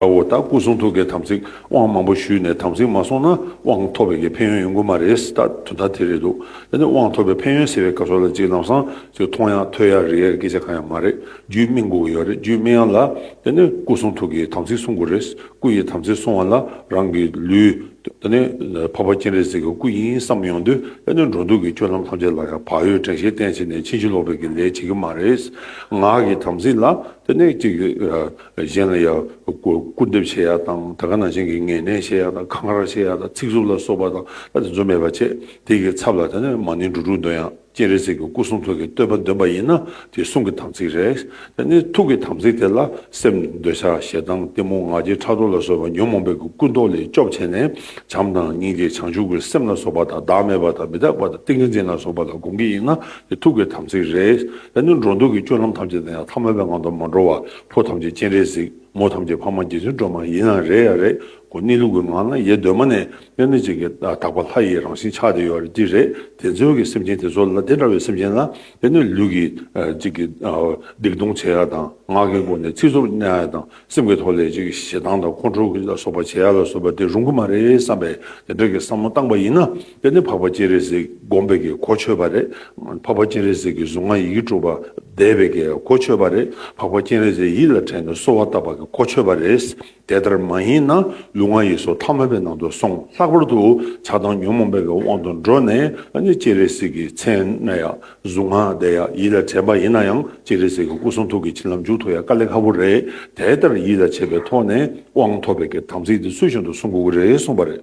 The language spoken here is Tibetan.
དཔའ་བོ་དང་སྐུ་གསུང་ཐུགས་ཀྱི་དམ་ཚིག་དབང་མང་པོ་ཞུས་ནས་དམ་ཚིག་མ་སྲུང་ན་དབང་ཐོབ་པའི་ཕན་ཡོན་ཡོང་གི་མ་རེད་ད་དུས་ད་དེ་རེད་འདུག་ད་ནི་དབང་ཐོབ་པའི་ཕན་ཡོན་ཟེར་བའི་སྐབས་སོགས་ལ་ཅིག་ལམ་སང་ཅིག་མཐོང་ཡག་ཐོས་ཡག་རིག་ཡག་སྐད་ཆ་གང་ཡང་མ་རེད་རྒྱུད་སྨིན་དགོས་ཀྱི་ཡོད་རེད་རྒྱུད་སྨིན་ཡག་ལ་ད་ནི་སྐུ་གསུང་ཐུགས་ཀྱི་དམ་ཚིག་སྲུང་དགོས་རེད་སྐུ་ཡི་དམ་ཚིག་སྲུང་བ་ལ་རང་གི་ལུས་ད་ནི་འཕགས་པ་སྤྱན་རས་གཟིགས་ཀྱི་སྐུ་ཡིན་བསམ་ཡོང་དུས་ད་ནི་འགྲོ་འདུག་གི་སྤྱོད་ལམ་ཐམས་ཅད་ལ་ཡང་བག་ཡོད་དྲན་ཤེས་བརྟན་བྱས་ནས་ཕྱིན་ཅི་ལོག་པའི་གི་ལས་བྱེད་ཀྱི་མ་རེད་ངག་གི་དམ་ཚིག་ལ་ད་ནི་ཅིག་གཞན་ལ་ཡང་སྐུར་འདེབས་བྱེད་ཡག་དང་དར་ཁ་ནང་བཞིན་གྱི་ངེས་གནས་བྱེད་ཡག་དང་ཁ་ངར་བྱེད་ཡག་དང་ཚིག་རྩུབ་ལ་སོགས་པ་དང་ལྟ་དེ་ཚོ་མེད་པར་བྱས་དེ་གི་ཚབ་ལ་ད་ནི་མ་ནིང་འགྲོ་དྲུག་འདོན་ཡང་སྤྱན་རས་གཟིགས་ཀྱི་སྐུ་གསུང་ཐུགས་ཀྱི་བསྟོད་པ་འདོན་པ་ཡིན་ན་དེ་གསུང་གི་དམ་ཚིག་རེད་ད་ནི་ཐུགས་ཀྱི་དམ་ཚིག་དེ་ལ་སེམས་འདོད་ཆགས་ཞེ་སྡང་གཏི་མུག་ངག་འཁྱལ་ཕྲག་དོག་ལ་སོགས་པ་ཉོན་མོངས་པའི་གི་ཀུན་རྟོག་ལས་སྐྱོབ་བྱས་ནས་བྱམས་དང་སྙིང་རྗེ་བྱང་ཆུབ་ཀྱི་སེམས་ལ་སོགས་པ་དང་བདག་མེད་པ་དང་མི་རྟག་པ་དང་ཏིང་ངེ་འཛིན་ལ་སོགས་པ་ལ་དགོངས་ཀྱི་ཡིན་ན་ཐུགས་ཀའི་དམ་ཚིག་རེ། ཡང་ནི་འགྲོ་འདུག་གི་སྤྱོད་ལམ་ཐམས་ཅད་དང་ཡང་ཐ་མལ་པའི་ངང་དུ་མ་འགྲོ་བར་ཕོ་ཐམས་ཅད་སྤྱན་རས་གཟིགས་མོ་ཐམས་ཅད་འཕགས་མ་རྗེ་བཙུན་སྒྲོལ་མ་ཡིན་ན་རེ་ཡ་རེ་གོ་གནས་ལུགས་ཀྱི་ངང་ན་ཡེ་གདོད་མ་ནས་དབྱར་གནས་གཅིག་གི་དག་པ་ལྷ་ཡི་རང་བཞིན་ཆགས་ཏེ་ཡོད་ཀྱི་རེད་དེ་མཚོན་གྱི་སེམས་ཅན་དེ་ཚོ་ལ་དེ་འདྲ་བའི་སེམས་ཅན་ལ་དབྱར་གནས་ལུགས་ཀྱི་གཅིག་གི་སྡིག་ལྟུང་བྱེད་ཡ་དང་ངག་གི་སྒོ་ནས་ཚིག་རྩུབ་གནས་ཡ་དང་སེམས་ཀྱི་ཐོག་ལས་ཅིག་ཞེ་སྡང་དང་ཁོང་ཁྲོ་ལ་སོགས་པ་བྱེད་ཡ་ལ་སོགས་པ་དེ་རུང་གི་མ་རེད་བསམ་པས་དེ་འདྲ་གི་བསམ་བློ་བཏང་པ་ཡིན་ན་དེ་ནི་འཕགས་པ་སྤྱན་རས་གཟིགས་སྒོམ་པའི་གི་གོ་ཆོད་པ་རེད་འཕགས་པ་སྤྱན་རས་གཟིགས་ཀྱི་གཟུངས་སྔགས་ཡི་གེ་དྲུག་པ་བཟླས་པའི་གི་གོ་ཆོད་པ་རེད་འཕགས་པ་སྤྱན་རས་གཟིགས་ཡིད་ལ་དྲན་ནས་གསོལ་བ་བཏབ་པ་གི་གོ་ཆོད་པ་རེད་དེ་ལྟར་མ་ཡིན་ན་ལུས་ངག་ཡིད་སོགས་ཐ་མལ་པའི་ནང་དུ་སོང་ལྷག་པར་དུ་ཆགས་སྡང་ཉོན་མོངས་པའི་གི་དབང་དུ་འགྲོ་ནས་ནི་སྤྱན་རས་གཟིགས་ཀྱི་མཚན་གཟུངས་སྔགས་བཟླས་ཡག་ཡིད་ལ་དྲན་པ་ཡིན་ན་ཡང་ཅི་རེད་ཟེར་གི་སྐུ་གསུང་ཐུགས་ཀྱི་བྱིན་རླབས་མཇུག་ཐོགས་ཡ་དཀའ་ལས་ཁ་བོ་རེད་དེ་ལྟར་ཡིད་ལ་བྱས་པའི་ཐོག་ནས་དབང་ཐོབ་པའི་གི་དམ་ཚིག་དེ་ཚུལ་བཞིན་དུ་སྲུང་དགོས་གི་རེད་གསུངས་པ་རེད།